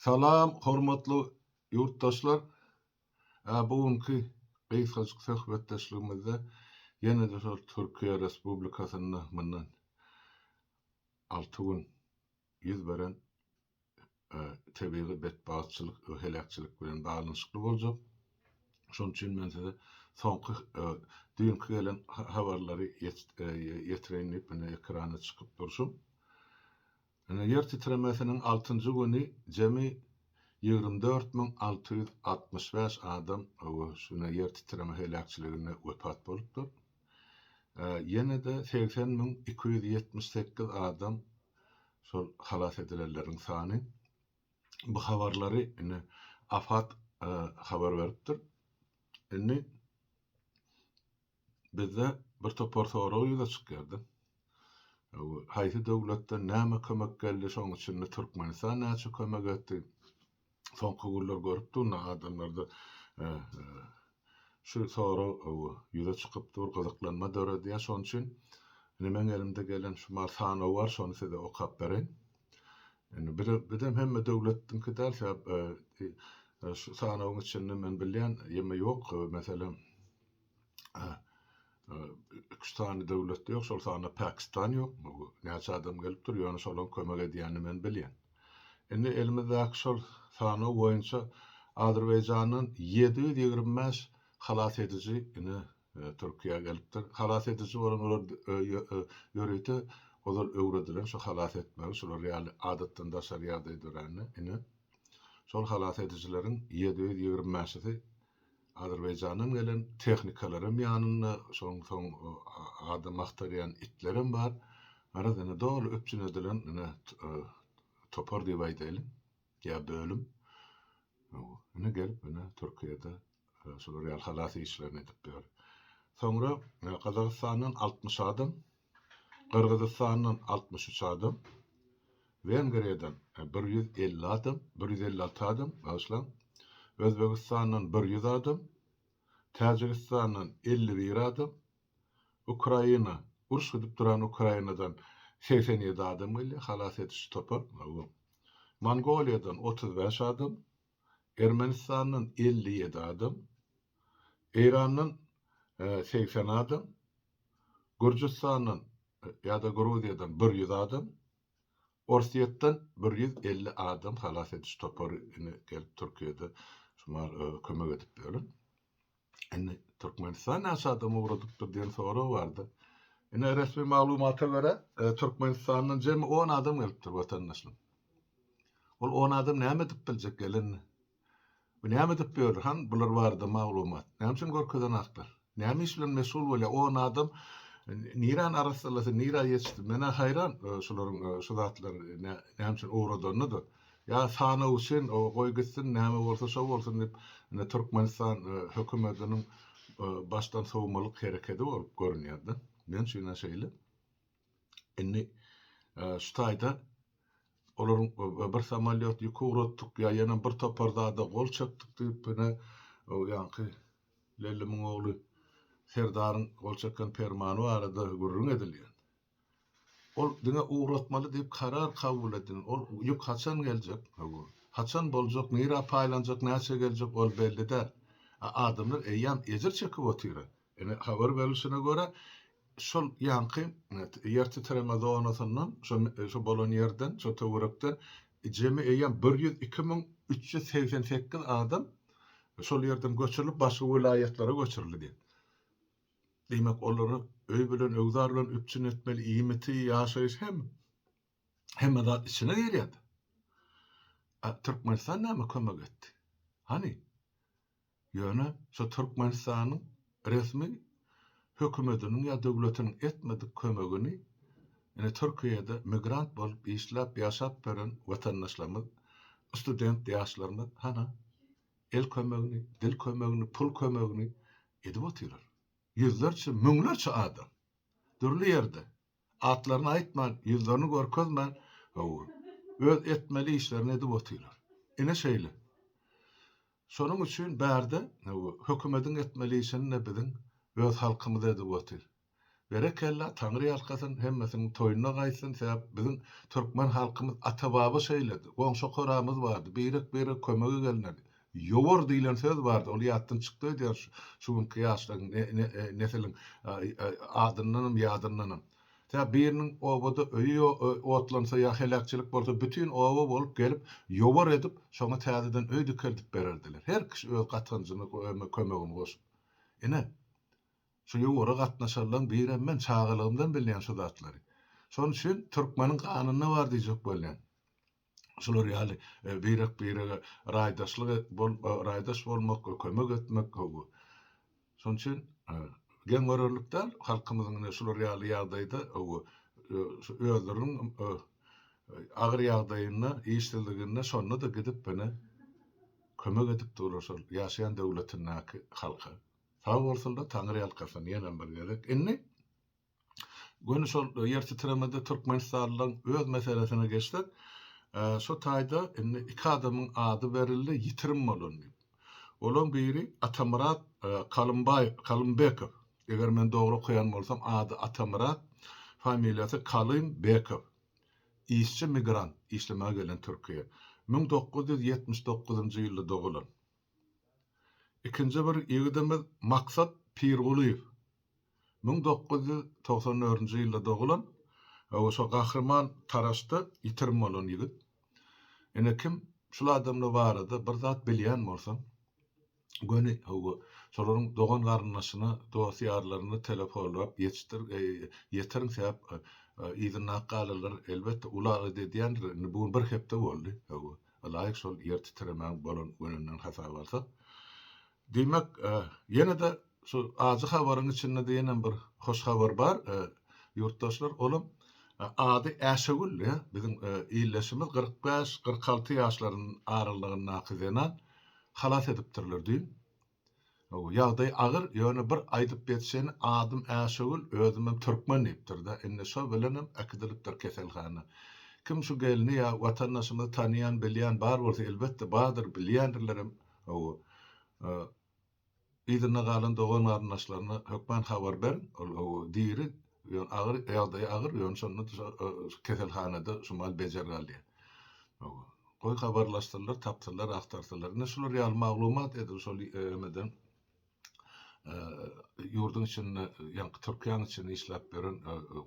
Salam hormatly ýurtdaşlar! Bu günki gysgajyk söhbetdeşligimizde ýene-de şol Türkiýe Respublikasynda mundan alty gün ýüz beren tebigy betbagtçylyk we heläkçilik bilen baglanyşykly boljak. Şonuň üçin men size soňky düýnki gelen habarlary ýetireýin diýip indi ekrana çykyp durşum. Ine, ýer titremesiniň altynjy güni jemi ýigrimi dört müň alty ýüz altmyş bäş adam şu ne ýer titreme heläkçiliginde wepat bolupdyr. Ýene-de segsen müň iki ýüz ýetmiş sekiz adam şol halas edilenleriň sany. Bu habarlary ine AFAD habar beripdir. Indi Bizde bir topar sorag ýüze çykýardy. Haýsy döwletden näme kömek geldi, şoň içinde Türkmenistan näçe kömek etdi? Soňky günler görüp durna adamlarda şu sorag ýüze çykyp dur, gyzyklanma döredýär. Şoň üçin indi meň elimde gelen şu bar sanaw bar, şony size okap bereýin. Indi bizem hemme döwletdiňki däl, sebäp şu sanawyň içinde men bilýän ýeme ýok. Meselem, iki-üç sany döwletde ýok, şol sanda Pakistan ýok. Bu näçe adam gelipdir, ýöne şolaryň kömek edýänini men bilýän. Indi elimizdäki şol sanaw boýunça Azerbaýjandan ýedi ýüz ýigrimi bäş halas ediji ine e, Türkiýä gelipdir. Halas ediji bolan olar e, e, ýörite olar öwredilen şu halas etmegi, şular ýaly adatdan daşary ýagdaý dörände ine şol halas edijileriň ýedi ýüz ýigrimi bäşisi Azerbaýjandan gelen tehnikalaram ýanynda, şonuň soň adam agtarýan itlerem bar. Garaz, indi doly üpjün edilen ine topar diýip aýdaýlyň ýa bölüm. Indi gelip ine Türkiýede şular ýaly halas işlerini edip ýör. Soňra Gazagystandan altmyş adam Gyrgyzystandan altmyş üç adam, Wengriýadan bir ýüz elli adam, bir ýüz elli alty adam, bagyşlaň, Özbegistandan bir ýüz adam, Täjigistandan elli bir adam, Ukraina, uruş gidip duran Ukrainadan segsen ýedi adam gelýär, halas ediş topar, Mongoliýadan otuz bäş adam, Ermenistandan elli ýedi adam, Eýrandan segsen adam, Gürjüstandan ýa-da Gruziýadan bir ýüz adam, Orsýetden bir ýüz elli adam halas ediş topary indi gelip Türkiýede kömek edip ýör. Indi Türkmenistan näçe adam ugradypdyr diýen sorag bardy. Indi resmi maglumata görä, e, Türkmenistandan jemi 10 adam gelipdir watandaşlar. Ol 10 adam näme edip biljek gelen? Bu näme edip ýör? Han bular barada maglumat. Näme üçin görkezen aklar? Näme iş bilen meşgul bolýar? 10 adam Niran arassalasa, nira ýetişdi. Menä haýran e, şularyň e, şu zatlar e, näme üçin ugradanyna da. Ýa sanaw üçin goý gitsin näme bolsa şo bolsun diýip indi Türkmenistan hökümetiniň başdan sowmalyk herekedi bolup görünýärde näme üçin şeýle indi şu taýda olaryň bir samolýot ýük ugratdyk ýa ýene bir topar zada gol çekdik diýip ine o ýaňky Lellimiň ogly Serdaryň gol çeken permany barada gürrüň edilýär. Ol diňe ugratmaly diýip karar kabul edin. Ol ýük haçan geljek? Hawa. Haçan boljak, nirä paýlanjak, näçe geljek, ol belli däl. A adamlar eýýäm ejir çekip otyra. Ine, habar berilişine görä, şol ýaňky ýer titreme zonasyndan, şo şo bolan ýerden, şo töwerekden jemi eýýäm bir ýüz iki müň üç ýüz segsen sekiz adam şol ýerden göçürilip, başga welaýatlara göçürildi. Diýmek, olary öý bilen, öwzar bilen üpjün etmeli, iýmiti, ýaşaýyş hem, hemme zat içine girýär. A Türkmenistan näme kömek etdi? Hany? Ýöne şu Türkmenistanyň resmi hökümetiniň ýa döwletiniň etmedik kömegini ine Türkiýede migrant bolup işläp ýaşap ýören watandaşlarymyz, student ýaşlarymyz hana? el kömegini, dil kömegini, pul kömegini edip otyrar. Ýüzlerçe, müňlerçe adam dürli ýerde atlaryny aýtman, ýüzlerini görkezmän, hawa, öz etmeli işlerini edip otyrar. Ine şeýle. Şonuň üçin bärde, hawa, hökümediň etmeli işini-de biziň öz halkymyz edip otyr. Berekella Taňry ýalkasyn hemmesiniň toýuna gaýtsyn sebäp biziň Türkmen halkymyz ata baba şeýledi goňşy koramyz bardy birek birege kömege gelnedi ýowar diýlen söz bardy ol ýatdan çykdy öýdýän şu günki ýaşlaryň nesiliň adyndanam ýadyndanam sebäp biriniň obada öýi otlansa ýa heläkçilik bolsa bütin oba bolup gelip ýowar edip şoňa täzeden öý dikeldip bererdiler her kişi öz gatanjyny kömegini goşup ine Şu ýowara gatnaşarlaň birem men çagalygymdan bilýän şu zatlary. Şonuň üçin türkmeniň ganynda bar diýjek bolýan. Şular ýaly birek birege raýdaşlyk et bol raýdaş bolmak kömek etmek gowy. Şonuň üçin geň görerlik däl halkymyzyň ine şular ýaly ýagdaýda gowy şu özleriniň agyr ýagdaýynda işsizliginde şonda-da gidip ine kömek edip durlar şol ýaşaýan döwletindäki halka. Sag bolsunlar taňryýalkasyn ýenem bir gezek. Indi göni şol ýer titremede türkmenistanlylaryň öz meselesine geçsek, şu taýda indi iki adamyň ady berildi ýitirim bolan diýip. Olaň biri Atamyrat Kalymbaý Kalymbekow. Eger men dogry okaýan bolsam ady Atamyrat, familiýasy Kalymbekow. Işçi migrant, işlemäge gelen Türkiýä. Müň dokuz ýüz ýetmiş dokuzynjy ýylda dogulan. Ikinji bir ýigidimiz Maksat Pirgulyýew. Müň dokuz ýüz togsan dördünji ýylda dogulan, hawa, şo Gahryman Taraşda ýitirim bolan ýigit. Ine, kim şul adamlar barada bir zat bilýän bolsa, göni, hawa, şolaryň dogan-garyndaşyna, dost-ýarlaryna telefonlap ýetişdir, ýetiriň, sebäp yzyndaky galalar, elbetde, uly agyz edýändir, indi bu gün bir hepde boldy, hawa. Ylaýyk şol ýer titremäň bolan gününden hasaba alsak. Diýmek, ýene-de şu ajy habaryň içinde-de ýenem bir hoş habar bar, ýurtdaşlar, olam ady Äşegül, ýa, biziň ildeşimiz kyrk bäş, kyrk alty ýaşlarynyň aralygyndaky zenan halas edipdirler düýn. Hawa, ýagdaý agyr, ýöne bir aýdyp geçjegini adym Äşögül, özümem türkmen diýipdir-de, indi şo bilenem äkidilipdir keselhana. Kim şu gelni ýa watandaşymyzy tanaýan, bilýän bar bolsa, elbetde, bardyr, bilýändirlerem, hawa, yzynda galan dogan-garyndaşlaryna hökman habar beriň, ol, hawa, diri, Ýöne agyr, ýagdaýy agyr, ýöne şonda keselhanada şu mal bejer galýar. Goý habarlaşsynlar, tapsynlar, agtarsalar. Ine şular ýaly maglumat edil şol emeden ýurduň içinde, ýaňky Türkiýäň içinde işläp ýören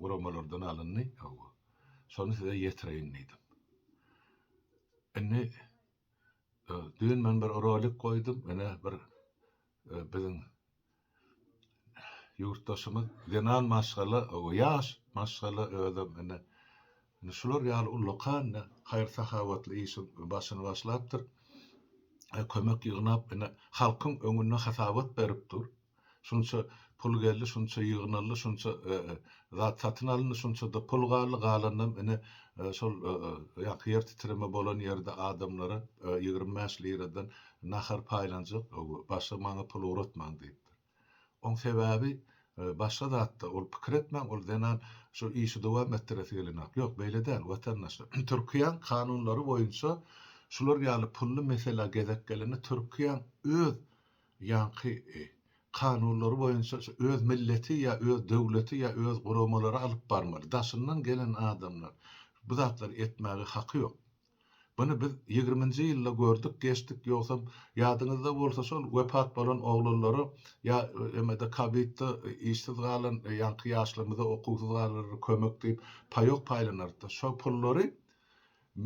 guramalardan alyndy. Şony size ýetireýin diýdim. Indi Düýn men bir rolik goýdum, ine bir biziň ýurtdaşymyz zenan maşgala, ýaş maşgala özem ine şular ýaly ullakan haýyr-sahawatly işiň başyny başlapdyr. Kömek ýygnap ine halkyň öňünde hasabat berip dur. şunça pul geldi, şunça ýygnaldy, şunça zat satyn alyndy, şunça-da pul galdy, galanynam ine, şol ýaňky ýer titreme bolan ýerde adamlara ýigrimi bäş liradan nahar paýlanjak, başga maňa pul ugratmaň diýipdir. Oň sebäbi başga zatda, ol pikir etmäň, ol zenan şu işi dowam etdiresi gelenok. Ýok, beýle däl, watandaş. Türkiýäň kanunlary boýunça şular ýaly pully meselä gezek gelende Türkiýäň öz ýaňky kanunlary boýunça şu öz milleti ýa öz döwleti ýa öz guramalary alyp barmaly daşyndan gelen adamlar bu zatlary etmäge haky ýok buny biz ýigriminji ýylda gördük geçdik ýogsam ýadyňyzda bolsa şol wepat bolan oglanlara ýa emede kabitda işsiz galan ýaňky ýaşlarymyza okuwsyz galanlara kömek diýip paýok paýlanarykda şo pullary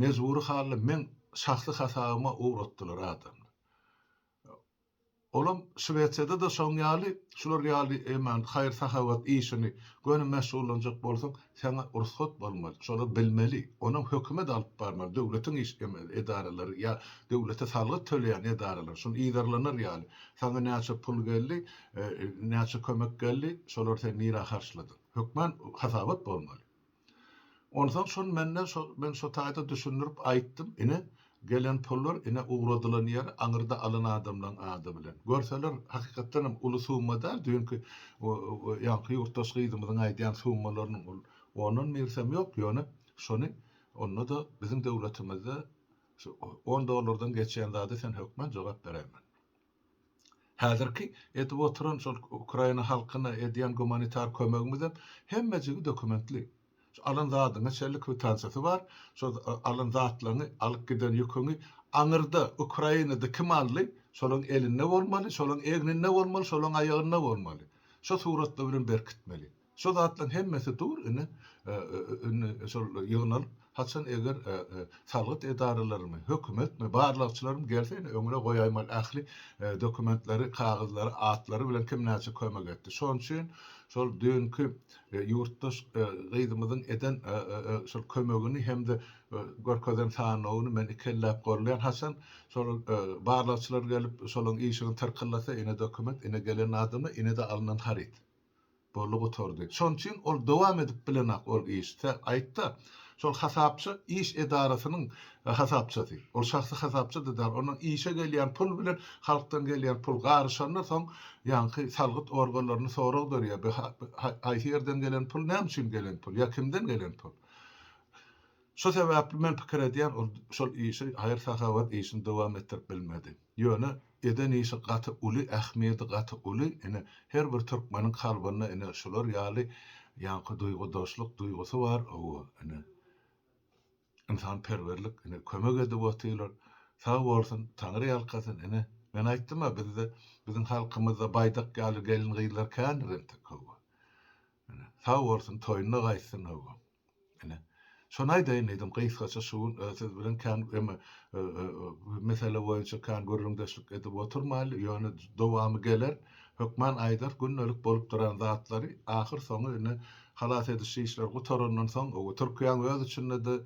mejbury hally meň şahsy hasabyma ugratdylar adamlar Olam Şwesiýada-da şoň ýaly, şular ýaly eman haýyr-sahawat işini göni meşgullanjak bolsaň, saňa rugsat bolmaly. Şolar bilmeli. Onam hökümet alyp barmaly, döwletiň iş edaralary ýa döwlete salgyt töleýän edaralar, şuny yzarlanar ýaly. Saňa näçe pul geldi, näçe kömek geldi, şolary sen nirä harçladyň? Hökman hasabat bolmaly. Onsoň şol mende şo men şo taýda düşündirip aýtdym, ine, gelen pullar, ine, ugradylan ýeri, aňyrda alan adamlaň ady bilen. Görseler, hakykatdanam uly summa däl, düýnki o-o ýaňky ýurtdaş gyzymyzyň aýdýan summalarynyň ol ondan birsem ýok, ýöne şony onda-da biziň döwletimizde şu on dollardan geçýän zada sen hökman jogap beräýmeli. Häzirki edip oturan şol Ukraina halkyna edýän gumanitar kömegimizem hemmejigi dokumentli. Şu alan zadyňyň şeýle kwitansiýasy bar, şo alan zatlaryňy, alyp giden ýüküňi aňyrda Ukrainada kim aldy, şolaryň elinde bolmaly, şolaryň egninde bolmaly, şolaryň aýagynda bolmaly. Şo suratlar bilen berkitmeli. Şo zatlaň hemmesi dur indi indi şol ýygnalyp haçan eger salgyt edaralarymy hökümetmi barlagçylarym gelse indi öňüne goýaýmaly ähli dokumentleri kagyzlary atlary bilen kim näçe kömek etdi şoň üçin şol düýnki ýurtdaş gyzymyzyň eden şol kömegini hem-de görkezen sanawyny men iki elläp golleýan haçan şol barlagçylar gelip şolaň işigini tyrkyllasa ine dokument ine gelen adamlar ine-de alnan haryt. Boldy gutardy. Şon üçin ol dowam edip bilenok ol iş. Sen aýtda, şol hasapçy iş edarasynyň hasapçysy. Ol şahsy hasapçyda dal. Onuň işe gelýän pul bilen halkdan gelýän pul garyşanda soň ýaňky salgyt organlaryny sorag berýär. Bu haýsy ýerden gelen pul, näme üçin gelen pul? Ýa kimden gelen pul? Şo sebäpli men pikir edýän ol şol işi haýyr-sahawat işini dowam etdirip bilmedi. Ýöne eden işi gaty uly ähmiýedi gaty uly ine her bir türkmeniň kalbynda ine şular ýaly ýaňky duýgudaşlyk duýgusy bar owo ine ynsan perwerlik ine kömek edip otyrlar sag bolsun taňry ýalkasyn ine men aýtdym-a bizde biziň halkymyzda baýdak ýaly gelin gyzlar kändir entek owo ine sag bolsun toýuna gaýtsyn owo. Ine, şony aýdaýyn diýdim, gysgaça şu gün siz bilen kän eme mesele boýunça kän gürrüňdeşlik edip oturmaýly, ýöne dowamy geler, hökman aýdar, gündelik bolup duran zatlary, ahyr soňy indi halas ediş işleri gutarandan soň, Türkiýäň öz içinde-de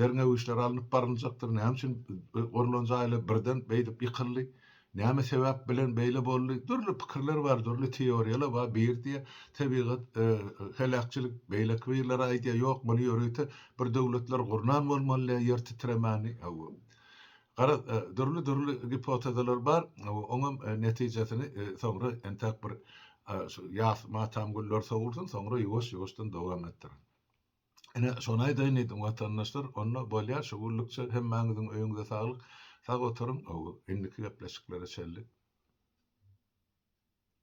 derňew işleri alnyp baryljakdyr, näme üçin gurlan jaýlar birden beýdip ýykyldy, Näme sebäp bilen beýle boldy? Dürli pikirler bar, dürli teoriýalar bar. Biri diýýär, tebigat heläkçilik, beýleki birleri aýdýar, ýok, muny ýörite bir döwletler gurnan bolmaly ýer titremäni. Hawa. Gara, dürli-dürli gipotezalar bar. Oňam netijesini soňra entäk bir ýas matam güller sowulsyn, soňra ýuwaş-ýuwaşdan dowam etdiriň. Ine, şony aýdaýyn diýdim, watandaşlar, onda bolýar şu günlükçe, hemmäňiziň öýüňize saglyk, sag oturyň, indiki gepleşiklere çenli.